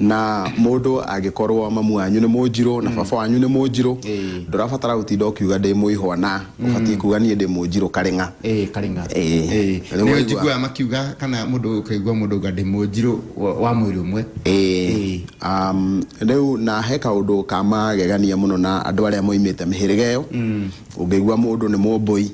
Na mũndũ angĩkorwo mamu wanyu nĩ mũnjirũ na baba wanyu nĩ mũnjirũ, Ĩĩ. ndũrabatara gũtinda ũkiuga ndĩ mũihwa na ũbatiĩ kuuga niĩ ndĩ mũnjirũ karĩng'a. Ĩĩ, karĩng'a Ĩĩ. Ĩĩ. Rĩu nĩ waigua. njiguaga makiuga kana mũndũ ũkaigua mũndũ uga ndĩ mũnjirũ wa- wa mwĩrĩ ũmwe Ĩĩ. Um, rĩu na he kaũndũ ka magegania mũno na andũ arĩa moimĩte mĩhĩrĩga ĩyo Ũngĩigua mũndũ nĩ mũmbũi,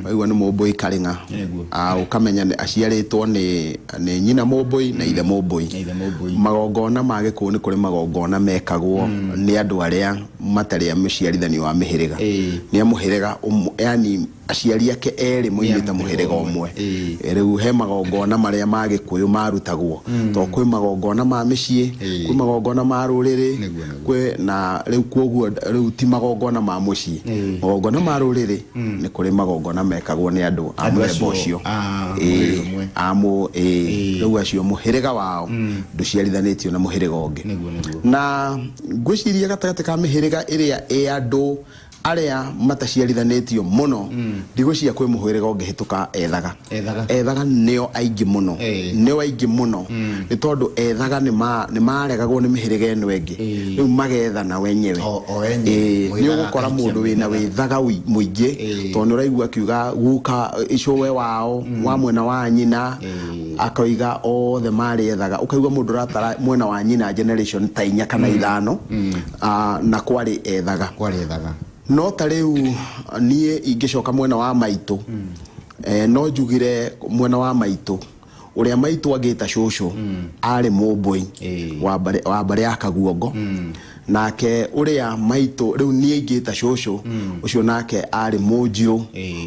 waigua nĩ mũmbũi karĩng'a, Nĩguo. ah, ũkamenya nĩ- aciarĩtwo nĩ nĩ nyina mũmbũi na ithe mũmbũi. Na ithe mũmbũi. Magongona ma Gĩkũyũ nĩ kũrĩ magongona mekagwo nĩ andũ arĩa matarĩ a mũciarithanio wa mĩhĩrĩga. Ĩĩ. Nĩ a mũhĩrĩga ũmwe, yani aciari ake erĩ moimĩte mũhĩrĩga mũhĩrĩga ũmwe. ũmwe. Ĩĩ. Rĩu he magongona marĩa ma Gĩkũyũ marutagwo. To kwĩ magongona ma mĩciĩ, Ĩĩ. kwĩ magongona ma rũrĩrĩ, Nĩguo, nĩguo. kwĩ na rĩu kwoguo rĩu ti magongona ma mũciĩ Ĩĩ. magongona ma rũrĩrĩ nĩ kũrĩ magongona mekagwo nĩ andũ a Andũ mũthemba acio ũcio a mũrĩrĩ Ĩĩ, ũmwe. a mũ ĩĩ. Ĩĩ. rĩu acio mũhĩrĩga wao ndũciarithanĩtio na mũhĩrĩga ũngĩ Nĩguo, nĩguo. na ngwĩciria gatagatĩ ka mĩhĩrĩga ĩrĩa ĩ andũ Arĩa mataciarithanĩtio mũno ndigũ cia kwĩ mũhwĩrĩga ũngĩhĩtũka ethaga Ethaga. ethaga nĩo aingĩ mũno Eh. nĩo aingĩ mũno nĩ tondũ ethaga nĩ ma- nĩ maregagwo nĩ mĩhĩrĩga ĩno ĩngĩ Eh. rĩu magethana wenyewe O- o wenyewe. Eh, nĩ Mwĩthaga ũgũkora akaikia mũndũ wĩna mwĩthaga. wĩthaga ũi- mũingĩ Eh. tondũ nĩ ũraigua akiuga guka icũwe wao wa mwena wa nyina Eh. akoiga othe marĩ ethaga ũkaigua mũndũ ũratara mwena wa nyina generation ta inya kana ithano Aa, na kwarĩ ethaga. Kwarĩ ethaga. No ta rĩu niĩ ingĩcoka mwena wa maitũ eh, no njugire mwena wa maitũ ũrĩa maitũ angĩta cũcũ arĩ mũmbũi Ĩĩ. wa mbarĩ- wa mbarĩ ya kaguongo nake ũrĩa maitũ rĩu niĩ ingĩta cũcũ ũcio nake arĩ mũnjirũ Ĩĩ.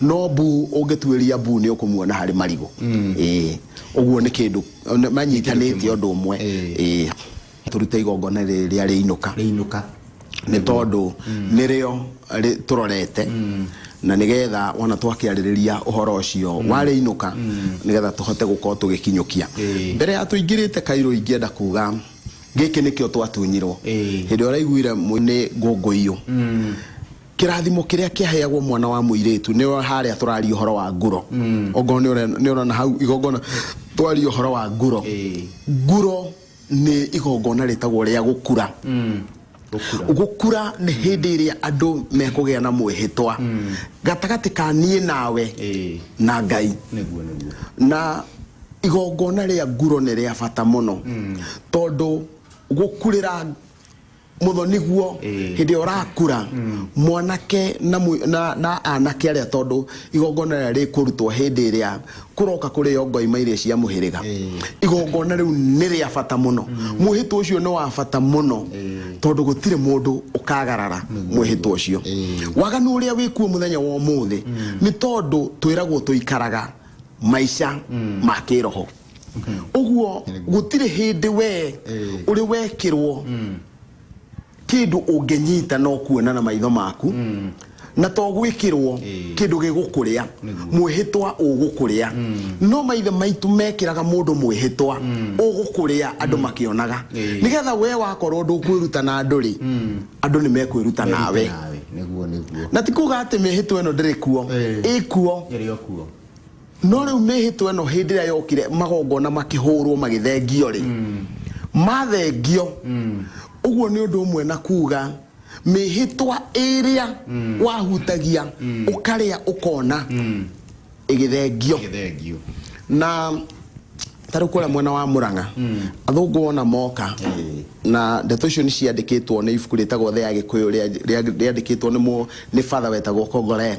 No mbu ũngĩtuĩria mbu nĩ ũkũmuona harĩ marigũ Ĩĩ. ũguo nĩ kĩndũ nĩ- manyitanĩte ũndũ ũmwe Ĩĩ. Ĩĩ. tũrute igongona rĩrĩa rĩinũka rĩinũka nĩ tondũ nĩrĩo rĩ- tũrorete na nĩgetha wona twakĩarĩrĩria ũhoro ũcio warĩinũka nĩgetha tũhote gũkorwo tũgĩkinyũkia Ĩĩ. mbere ya tũingĩrĩte kairũ ingĩenda kuga gĩkĩ nĩkĩo twatunyirwo Ĩĩ. hĩndĩ ĩrĩa ũraiguire mũ- nĩ ngũngũiyũ Kĩrathimo kĩrĩa kĩaheagwo mwana wa mũirĩtu nĩ o harĩa tũraria ũhoro wa nguro ongorwo nĩ ũre- nĩ ũrona hau igongona twaria ũhoro wa nguro Ĩĩ. nguro nĩ igongona rĩtagwo rĩa gũkura Gũkura. gũkura nĩ hĩndĩ ĩrĩa andũ mekũgĩa na mwĩhĩtwa gatagatĩ ka niĩ nawe Ĩĩ. na ngai Nĩguo nĩguo. na igongona rĩa nguro nĩ rĩa bata mũno tondũ gũkurĩra mũthoniguo hĩndĩ ĩrĩa ũrakura mwanake na mũ- na- na anake arĩa tondũ igongona rĩrĩa rĩkũrutwo hĩndĩ ĩrĩa kũroka kũrĩo ngoima iria cia mũhĩrĩga igongona rĩu nĩ rĩa bata mũno mwĩhĩtwa ũcio nĩ wa bata mũno tondũ gũtirĩ mũndũ ũkagarara mwĩhĩtwa ũcio waganu ũrĩa wĩkuo mũthenya wa ũmũthĩ nĩ tondũ twĩragwo tũikaraga maica ma kĩroho ũguo gũtirĩ hĩndĩ wee ũrĩ wekĩrwo kĩndũ ũngĩnyita no kuona na maitho maku na to gwĩkĩrwo kĩndũ gĩgũkũrĩa mwĩhĩtwa ũgũkũrĩa no maithe maitũ mekĩraga mũndũ mwĩhĩtwa ũgũkũrĩa andũ makĩonaga nĩgetha wee wakorwo ndũkwĩruta na andũ rĩ andũ nĩ mekwĩruta nawe Nawe, nĩguo nĩguo na ti kuga atĩ mĩhĩtwa ĩno ndĩrĩ kuo Ĩĩ. ĩkuo Ĩrĩ o kuo No rĩu mĩĩhĩtwa ĩno hĩndĩ ĩrĩa yokire magongona makĩhũrwo magĩthengio-rĩ, mathengio, ũguo nĩ ũndũ ũmwe na kuuga mĩĩhĩtwa ĩrĩa wahutagia ũkarĩa ũkona ĩgĩthengio. Gĩthengio. Na ta rĩu kũrĩa mwena wa Mũrang'a, athũngũ wona moka Ĩĩ. na ndeto icio nĩ ciandĩkĩtwo nĩ ibuku rĩtagwo The Agĩkũyũ rĩa- rĩa- rĩandĩkĩtwo nĩ mũ- nĩ Father wetagwo Kongoleng.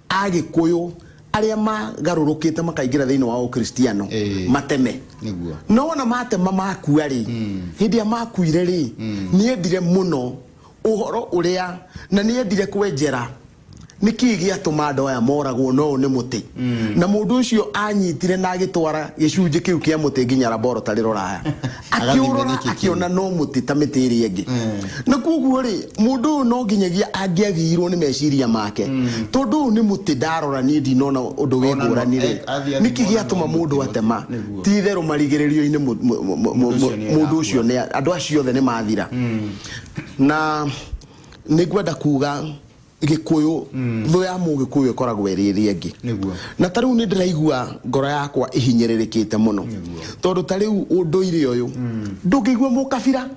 Agĩkũyũ arĩa magarũrũkĩte makaingĩra thĩinĩ wa ũkristiano Ĩĩ. mateme Nĩguo. no wona matema makua rĩ hĩndĩ ĩrĩa makuire rĩ nĩendire mũno ũhoro ũrĩa na nĩendire kwenjera nĩ kĩĩ gĩatũma andũ aya moragwo no ũyũ nĩ mũtĩ na mũndũ ũcio anyitire na agĩtwara gĩcunjĩ kĩu kĩa mũtĩ nginya laboratory rũraya akĩũrora akĩona no mũtĩ ta mĩtĩ ĩrĩa ĩngĩ na koguo rĩ mũndũ ũyũ no nginyagia angĩagiirwo nĩ meciria make tondũ ũyũ nĩ mũtĩ ndarora niĩ ndinona ũndũ wĩ Ona no- ngũrani rĩ eh, athiĩ athiĩ nĩkĩ kuona gĩatũma no mũndũ mũtĩ atema mũtĩ, nĩguo. ti itherũ marigĩrĩrio-inĩ mũ- mũ- mũ- mũ- Mũndũ ũcio nĩ mũndũ ũcio nĩ andũ acio othe nĩ mathira na nĩ ngwenda kuga gĩkũyũ thũ ya mũgĩkũyũ ĩkoragwo ĩrĩ ĩrĩa ĩngĩ Nĩguo. na ta rĩu nĩ ndĩraigua ngoro yakwa ĩhinyĩrĩrĩkĩte mũno tondũ ta rĩu ũndũire ũyũ ndũngĩigua mũkabira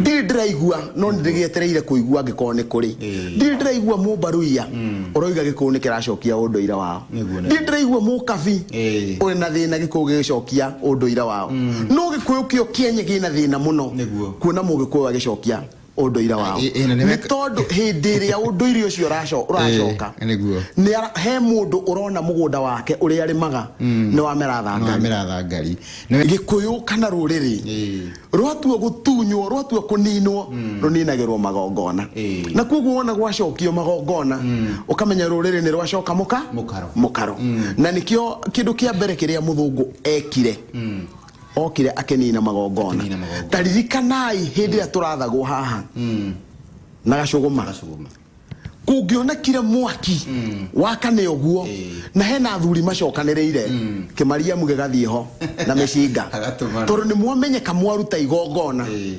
ndirĩ ndĩraigua no nĩ ndĩgĩetereire kũigua angĩkorwo nĩ kũrĩ Ĩĩ. ndirĩ ndĩraigua mũmbaruia ũroiga gĩkũyũ nĩ kĩracokia ũndũire wao Nĩguo, nĩguo. ndirĩ ndĩraigua mũkabi Ĩĩ. ũrĩ na thĩna gĩkũyũ gĩgĩcokia ũndũire wao no gĩkũyũ kĩo kĩenye gĩna thĩna mũno Nĩguo. kuona mũgĩkũyũ agĩcokia ũndũire wao Ĩ- ĩ, na nĩ nĩ weka- tondũ hĩndĩ ĩrĩa ũndũire ũcio ũraco- ũracoka Ĩ, nĩguo. nĩ ara- he mũndũ ũrona mũgũnda wake ũrĩa arĩmaga nĩ wamera thangari nĩwamera thangari Nĩ- gĩkũyũ kana rũrĩrĩ Ĩ. rwatua gũtunywo rwatua kũninwo rũninagĩrwo magongona Ĩ. na kwoguo wona gwacokio magongona ũkamenya rũrĩrĩ nĩ rwacoka mũka Mũkaro. mũkaro na nĩkĩo kĩndũ kĩa mbere kĩrĩa mũthũngũ ekire Okire akenina magongona. Akenina magongona. Ta ririkanai hindi ya turathagwo haha. Mm. Na gacuguma. Gacuguma. Kungionekire mwaki mm. wakane uguo e. na hena athuri macokaniriire mm. kimariamu gigathie ho na micinga tondu ni mwamenyeka mwaruta igongona e.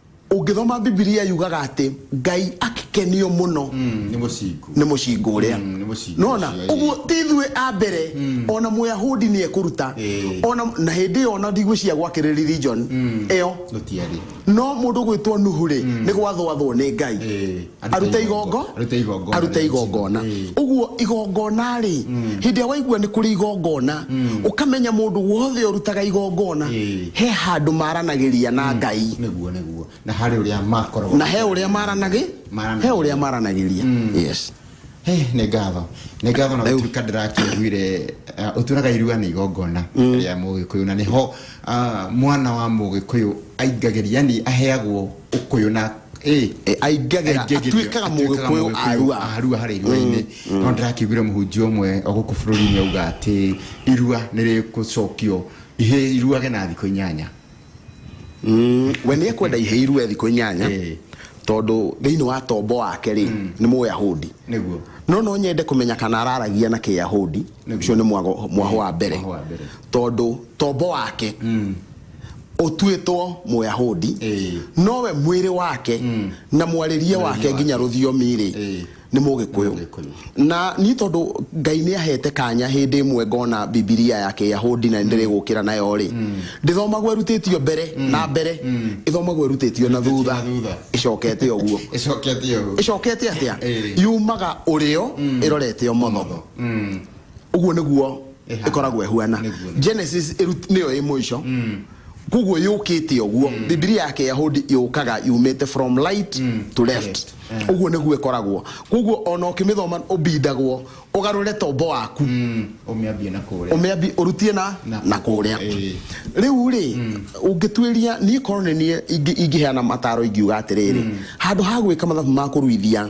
Ũngĩthoma Bibilia yugaga atĩ Ngai akĩkenio mũno mm, nĩ mũcingu nĩ mũcingu ũrĩa mm, nĩ mũcingu nona ũcio, ĩĩ. ũguo ti ithuĩ a mbere ona mũyahudi nĩ ekũruta Ĩĩ. ona na hĩndĩ ĩyo ona ndigwĩciria gwakĩrĩ religion ĩyo gũtiarĩ no mũndũ gwĩtwo nuhu rĩ nĩ gwathwathwo nĩ ngai Ĩĩ. arute igongo Arute igongona. arute igongona Eh. uguo igongona rĩ hĩndĩ ĩrĩa waigua nĩ kũrĩ igongona ũkamenya mũndũ wothe ũrutaga igongona Eh. he handũ maranagĩria na ngai nĩguo nĩguo na harĩ ũrĩa makoragwo na he ũrĩa maranagĩ Maranagĩ- he ũrĩa maranagĩria yes Hey, nĩ ngatho nĩ ngatho na Rĩu- gũtuĩka ndĩrakĩiguire uh, ũtũraga irua nĩ igongona rĩa mũgĩkũyũ na nĩho uh, mwana wa mũgĩkũyũ aingagĩria yani aheagwo ũkũyũ na eh, Eh, aingage aingĩagĩrio, atuĩkaga atuĩkaga mũgĩkũyũ Mũgĩkũyũ arua a Arua harĩa irua-inĩ no ndĩrakĩiguire mũhunjia ũmwe o gũkũ bũrũri-inĩ auga atĩ irua nĩ rĩgũcokio ihĩ iruage na thikũ inyanya Mm, we nä ekwenda ihä irue thikå inyanya Ĩĩ. tondå thä inä wa tombo wake rä nä må yahudi nĩguo no no nyende kå menya kana araragia na kä yahudi Nĩguo. å cio nä mwahå wa mbere Mwahũ wa mbere. tondå tombo wake ũtuĩtwo Mũyahudi, Ĩĩ. nowe mwĩrĩ wake na mwarĩrie wake nginya wake. rũthiomi-rĩ Ĩĩ. nĩ Mũgĩkũyũ. Mũgĩkũyũ. Na niĩ tondũ Ngai nĩ ahete kanya hĩndĩ ĩmwe ngona Bibilia ya Kĩyahudi na nĩndĩrĩ gũkĩra nayo-rĩ, ndĩthomagwo ĩrutĩtio mbere na mbere, ĩthomagwo ĩrutĩtio na thutha, na thutha. ĩcokete ũguo. ĩcokete ũguo Ĩcokete atĩa? Ĩĩ. Yumaga ũrĩo ĩrorete ũmotho. Ũmotho. Mm. uguo niguo ikoragwo ihuana genesis niyo i muico mm. koguo yukite uguo mm. bibilia yake yahudi yukaga yumite from light mm. to left eh. uguo niguo ikoragwo koguo ona ukimithoma ubindagwo ugarure tombo waku umiambie na kuria umiambie urutie na na kuria eh. riu ri ungitwiria ni korwo ni ingiheana mataro ingiuga atiriri handu ha gwika mathabu ma kuruithia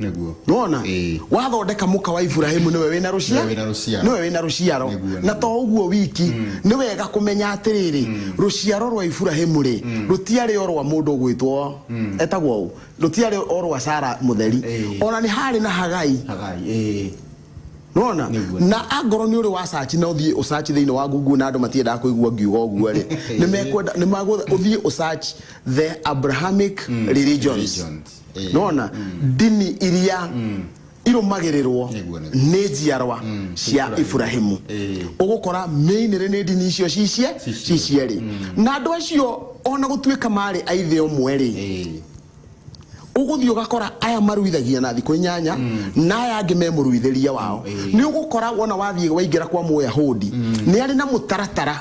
nĩguo nona Ĩĩ. wathondeka mũka wa iburahimu nĩwe wĩna Nĩwe rũciaro wĩna rũciaro. nĩwe wĩna rũciaro Nĩguo, na to ũguo wiki nĩ wega kũmenya atĩrĩrĩ rũciaro rwa iburahimu rĩ rũtiarĩ o rwa mũndũ ũgwĩtwo etagwo ũ rũtiarĩ o rwa sara mũtheri Ĩĩ. ona nĩ harĩ na hagai hagai ĩĩ nona Nĩguo. na angorwo nĩ ũrĩ wa sachi na ũthiĩ ũsachi thĩinĩ wa google na andũ matiendaga kũigua ngiuga ũguo rĩ nĩ mekwenda nĩ magwetha ũthiĩ ũsachi the abrahamic religions Religions. Eh. nona mm. ndini iria mm. irumagĩrĩrwo nĩ njiarwa mm, cia iburahimu eh. ũgũkora mĩinĩrĩ nĩ ndini icio cicie cicierĩ mm. na andũ acio ona gũtuĩka marĩ aithe ũmwe rĩ eh. ũgũthiĩ ũgakora aya maruithagia na thikũ inyanya mm. na aya angĩ me mũruithĩria wao nĩ ũgũkora wona wathiĩ waingĩra kwa mũyahudi nĩ arĩ na mũtaratara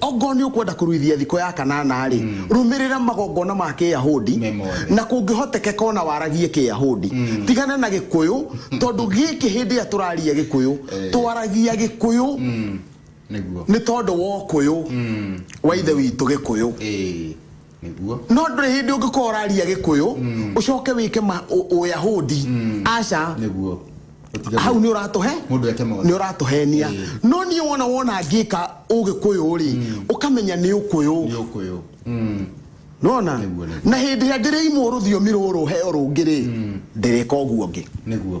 Ongorwo nĩ ũkwenda kũruithia thiko ya Kanana-rĩ, rũmĩrĩra magongona ma Kĩyahudi, Me mothe. na kũngĩhotekeka o na waragie Kĩyahudi. Tigana na Gĩkũyũ, tondũ gĩkĩ hĩndĩ ĩrĩa tũraria Gĩkũyũ, twaragia Gĩkũyũ Nĩguo. nĩ tondũ wa ũkũyũ wa Ithe witũ Gĩkũyũ. Ĩĩ. nĩguo no ndũrĩ hĩndĩ ũngĩkorwo ũraria gĩkũyũ ũcoke wĩke ma- ũ- ũyahudi aca nĩguo Ũtige- hau nĩ ũratũhe mũndũ eke maũndũ. nĩ ũratũhenia Ĩĩ. no niĩ wona wona ngĩka ũgĩkũyũ rĩ ũkamenya nĩ ũkũyũ nĩ ũkũyũ Mm. nona Nĩguo, nĩguo. na hĩndĩ ĩrĩa ndĩrĩimwo rũthiomi rũrũ heo rũngĩ rĩ ndĩrĩka ũguo ũngĩ nĩguo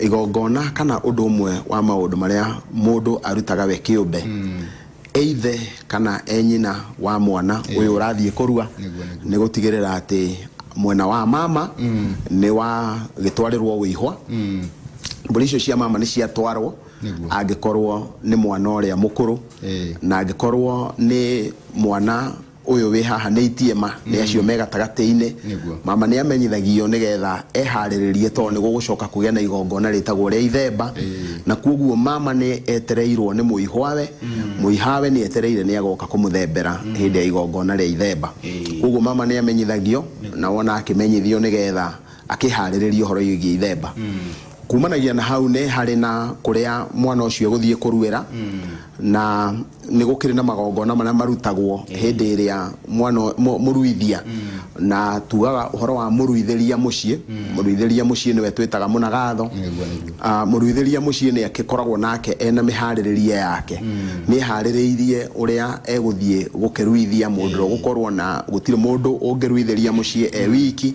Igongona kana ũndũ ũmwe wa maũndũ marĩa mũndũ arutaga we kĩũmbe eithe kana e nyina wa mwana ũyũ ũrathiĩ kũrua Nĩguo, nĩguo. nĩ gũtigĩrĩra atĩ mwena wa mama nĩ wagĩtwarĩrwo wĩihwa mbũri icio cia mama nĩ ciatwarwo Nĩguo. angĩkorwo nĩ mwana ũrĩa mũkũrũ Ĩĩ. na angĩkorwo nĩ mwana Ũyũ wĩ haha nĩ itie ma nĩ acio me gatagatĩ-inĩ. Nĩguo. Mama nĩ amenyithagio nĩ getha eharĩrĩrie tondũ nĩ gũgũcoka kũgĩa na igongona rĩtagwo rĩa ithemba. Na kwoguo mama nĩ etereirwo nĩ mũihwawe. Mũihwawe nĩ etereire nĩ agoka kũmũthembera hĩndĩ ya igongona rĩa ithemba. Kwoguo mama nĩ amenyithagio na wona akĩmenyithio nĩ getha... akĩhaarĩrĩria ũhoro wĩgiĩ ithemba. Kuumanagia na hau nĩ harĩ na kũrĩa mwana ũcio egũthiĩ kũruĩra, na nĩ gũkĩrĩ na magongona marĩa marutagwo hĩndĩ ĩrĩa mwana ũ- mũ- mũruithia, na tugaga ũhoro wa mũruithĩria mũciĩ, mũruithĩria mũciĩ nĩwe twĩtaga mũnagatho. Nĩguo, nĩguo. Ah, mũruithĩria mũciĩ nĩ agĩkoragwo nake ena mĩharĩrĩrie yake nĩ harĩrĩirie ũrĩa egũthiĩ gũkĩruithia mũndũ ũrĩa ũgũkorwo na gũtirĩ mũndũ ũngĩruithĩria mũciĩ e wiki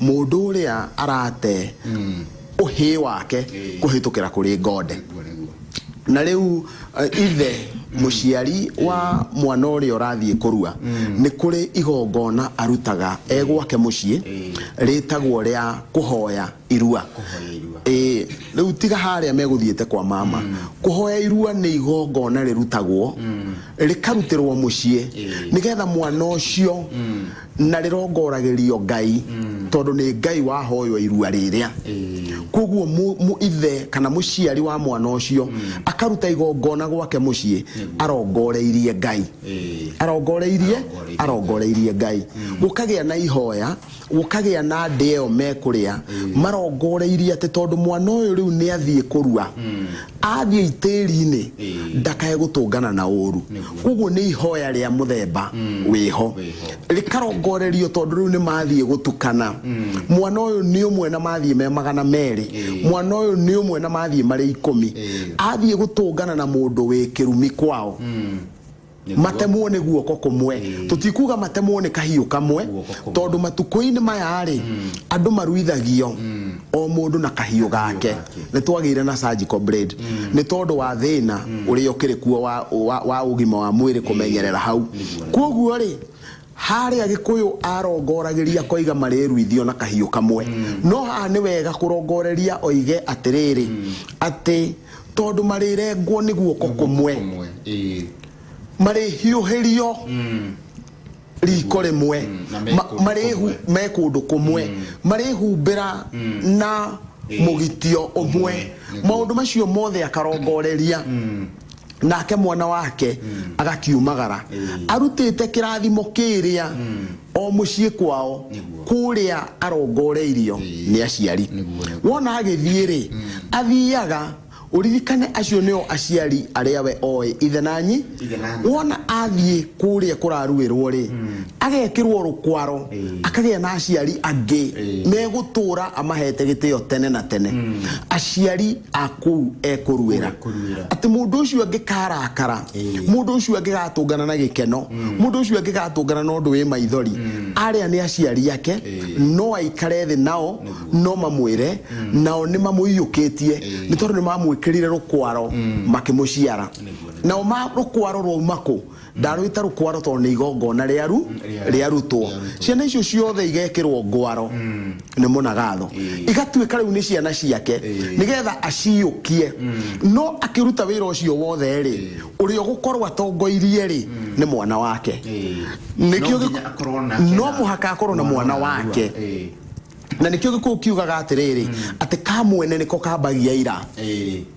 Mũndũ ũrĩa arate ũhĩ wake kũhĩtũkĩra kũrĩ ngonde. Na rĩu eh, ithe mũciari wa mwana ũrĩa ũrathiĩ kũrua nĩ kũrĩ igongona arutaga e gwake mũciĩ rĩtagwo rĩa kũhoya irua Ĩĩ, rĩu tiga harĩa megũthiĩte kwa mama kũhoya irua nĩ igongona rĩrutagwo rĩkarutĩrwo mũciĩ nĩgetha mwana ũcio na rĩrongoragĩrio Ngai tondũ nĩ Ngai wahoywo irua rĩrĩa. Kwoguo mũ- mũ- ithe kana mũciari wa mwana ũcio akaruta igongona gwake mũciĩ arongoreirie Ngai. Arongoreirie, arongoreirie Ngai. Gũkagĩa na ihoya, gũkagĩa na ndĩa ĩyo mekũrĩa marongoreirie atĩ tondũ mwana ũyũ rĩu nĩ athiĩ kũrua athiĩ itĩri-inĩ ndakae gũtũngana na ũru koguo nĩ ihoya rĩa mũthemba wĩho rĩkarongorerio tondũ rĩu nĩ mathiĩ gũtukana mwana ũyũ nĩ ũmwe na mathiĩ me magana merĩ mwana ũyũ nĩ ũmwe na mathiĩ marĩ ikũmi athiĩ gũtũngana na mũndũ wĩ kĩrumi kwao matemwo nĩ guoko kũmwe tũtikuga matemwo nĩ kahiũ kamwe tondũ matukũ-inĩ maya rĩ mm. andũ maruithagio mm. o mũndũ na kahiũ gake nĩ twagĩire na surgical blade mm. nĩ tondũ wa thĩna ũrĩa ũkĩrĩ kuo wa ũgima wa mwĩrĩ kũmenyerera hau kwoguo rĩ Haarĩ Agĩkũyũ arongoragĩria akoiga marĩruithio na kahiũ kamwe. No haha nĩ wega kũrongoreria oige atĩrĩrĩ atĩ tondũ marĩrengwo nĩ guoko kũmwe, marĩhiũhĩrio riko rĩmwe, marĩhu me kũndũ kũmwe, marĩhumbĩra na mũgitio ũmwe. Maũndũ macio mothe akarongoreria. nake mwana wake mm. agakiumagara mm. arutĩte kĩrathimo kĩrĩa mm. o mũciĩ kwao kũrĩa arongoreirio mm. nĩ aciari wona agĩthiĩ rĩ mm. athiaga uririkane acio nio aciari aria we oe ithe nanyi wona athiĩ kũrĩa kũraruĩrwo rĩ mm. agekĩrwo rũkwaro akagĩa na aciari angĩ megũtũra amahete gĩtĩo tene na tene aciari a kũu ekũruĩra atĩ mũndũ ũcio angĩkarakara mũndũ ũcio angĩgatũngana na gĩkeno mũndũ ũcio angĩgatũngana na ũndũ wĩ maithori arĩa nĩ aciari ake no aikare thĩ nao no mamwĩre nao nĩ mamũiyũkĩtie nĩ tondũ nĩ mamwĩkĩrire rũkwaro makĩmũciara nao ma rũkwaro rwauma kũ ndarwĩta rũkwaro tondũ nĩ igongona rĩaru rĩarutwo ciana icio ciothe igekĩrwo ngwaro mm. nĩ mũnagatho igatuĩka rĩu nĩ ciana ciake nĩgetha aciũkie mm. no akĩruta wĩra ũcio wothe rĩ ũrĩa ũgũkorwo atongoirie rĩ mm. nĩ mwana wake no mũhaka akorwo na mwana wake na nä kä o gä kå kiugaga atä rä rä atä ka mwene nä ko kambagia ira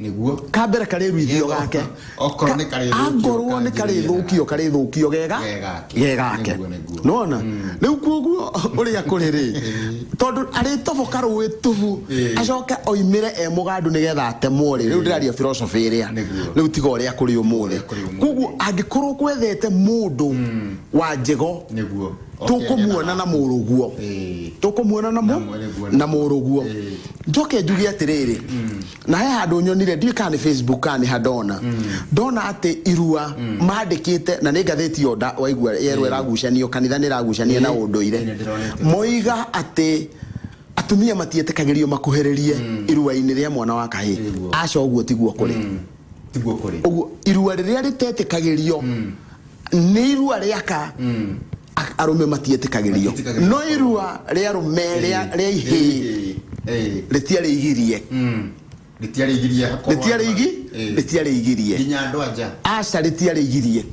nĩguo ka mbere karĩ ruithio Gego. gake Okorwo Ka- nĩ karĩ thũkio, angorwo nĩ karĩ kanjĩrĩria thũkio karĩ thũkio gega Ge gake. ge gake Nĩguo, nĩguo. nona rĩu kuoguo ũrĩa kũrĩ rĩ tondũ arĩtoboka rũĩ tubu Ĩĩ. acoke oimĩre e mũgandu nĩgetha atemwo rĩ rĩu ndĩraria philosophy ĩrĩa Nĩguo. rĩu tiga ũrĩa kũrĩ ũmũthĩ Ũrĩa kũrĩ ũmũthĩ. kuoguo angĩkorwo kwethete mũndũ wa njĩgo nĩguo tũkũmuona na mũrũguo tũkũmuona na mũ na mũrũguo njoke njuge atĩrĩrĩ na he handũ nyonire ndiũĩ kana nĩ facebook kana nĩ handona ndona atĩ irua mandĩkĩte na nĩ ngathĩti yo nda- waigua yerwo ĩragucanio kanitha nĩ ĩragucania na ũndũire moiga atĩ atumia matietĩkagĩrio makuhĩrĩrie irua-inĩ rĩa mwana wa kahĩĩ aca ũguo tiguo kũrĩ tiguo kuri uguo irua riria ritetikagirio ni irua riaka a- arume matietikagirio Matietĩkagĩrio. no irua ria arume ria ria ihi ritiari igirie ritiari igirie hakorwo ritiari igi Eh. ritiari igirie nginya andå anja aca ritiari igirie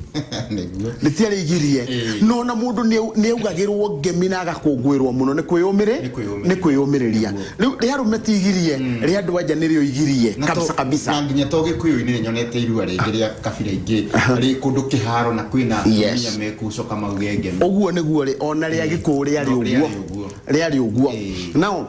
nĩguo nĩtiarĩgirie Ĩĩ. no na mũndũ nĩau- nĩaugagĩrwo ngemi na agakũngũĩrwo mũno nĩ kwĩyũmĩrĩ Nĩ kwĩyũmĩrĩria. nĩ kwĩyũmĩrĩria Nĩguo. rĩu rĩa arũme tigirie rĩa andũ anja nĩrĩo igirie Na to- kabisa kabisa na nginya to gĩkũyũ-inĩ nĩ nyonete irua rĩngĩ rĩa kabira ingĩ rĩ kũndũ kĩharo na kwĩna Yes. atumia mekucoka mauge ngemi ũguo nĩguo rĩ ona rĩa gĩkũũ rĩarĩ No, ũguo rĩarĩ ũguo. rĩarĩ ũguo Ĩĩ. nao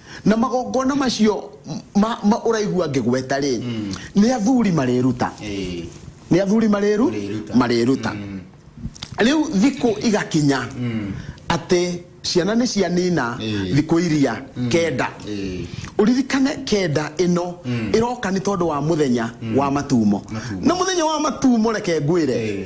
na magongona macio ma, ma ũraigua ngĩgweta rĩ mm. nĩ athuri marĩruta hey. nĩ athuri marĩru marĩruta mm. rĩu thikũ igakinya mm. atĩ ciana nĩ cianina hey. thikũ iria mm. kenda hey. uririkane kenda ino mm. iroka ni tondu wa muthenya mm. wa matumo na muthenya wa matumo reke ngwire hey.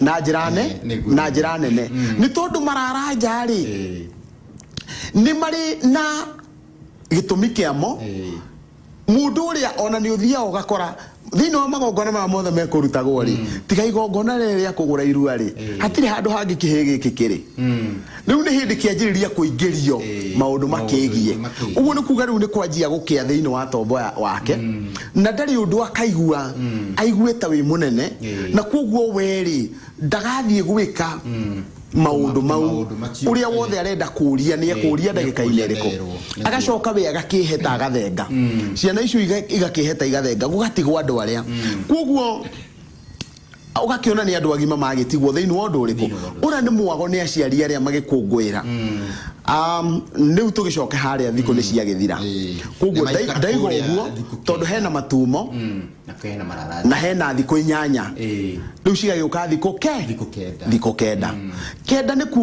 na njĩra ne Eh, nĩguo, na nĩguo. njĩra nene nĩ tondũ mararanja rĩ Eh, nĩ marĩ na gĩtũmi kĩamo eh, mũndũ ũrĩa ona nĩ ũthiaga ũgakora thĩinĩ wa magongona maya mothe mekũrutagwo rĩ tiga igongona rĩrĩ rĩa kũgũra irua rĩ hatirĩ handũ hangĩ kĩhĩ gĩkĩ kĩrĩ mm. Rĩu nĩ hĩndĩ kĩanjĩrĩria kũingĩrio maũndũ makĩgiĩ. Ũguo nĩ kuga rĩu nĩ kwanjia gũkĩa thĩinĩ wa tombo wake, mm. na ndarĩ ũndũ akaigua mm. aiguĩte wĩ mũnene, na kwoguo werĩ ndagathiĩ gwĩka mm maundu mau uria wothe arenda kuria ni ekuria ndagika ine riko agacoka we agakiheta agathenga mm. ciana icio igakiheta igathenga gugatigwa andu aria mm. koguo ũgakĩona nĩ andũ agima magĩtigwo thĩinĩ wa ũndũ ũrĩkũ ũrĩa nĩ mwago nĩ aciari arĩa magĩkũngũĩra Um, rĩu tũgĩcoke harĩa thikũ nĩ ciagĩthira Ĩĩ. koguo Nĩmaikara ndaiga kũrĩa ũguo thikũ tondũ kenda. hena matumo Mm, na kena mararathi na hena thikũ inyanya Ĩĩ. rĩu cigagĩũka thikũ ke Thikũ kenda. thikũ kenda kenda nĩ kuga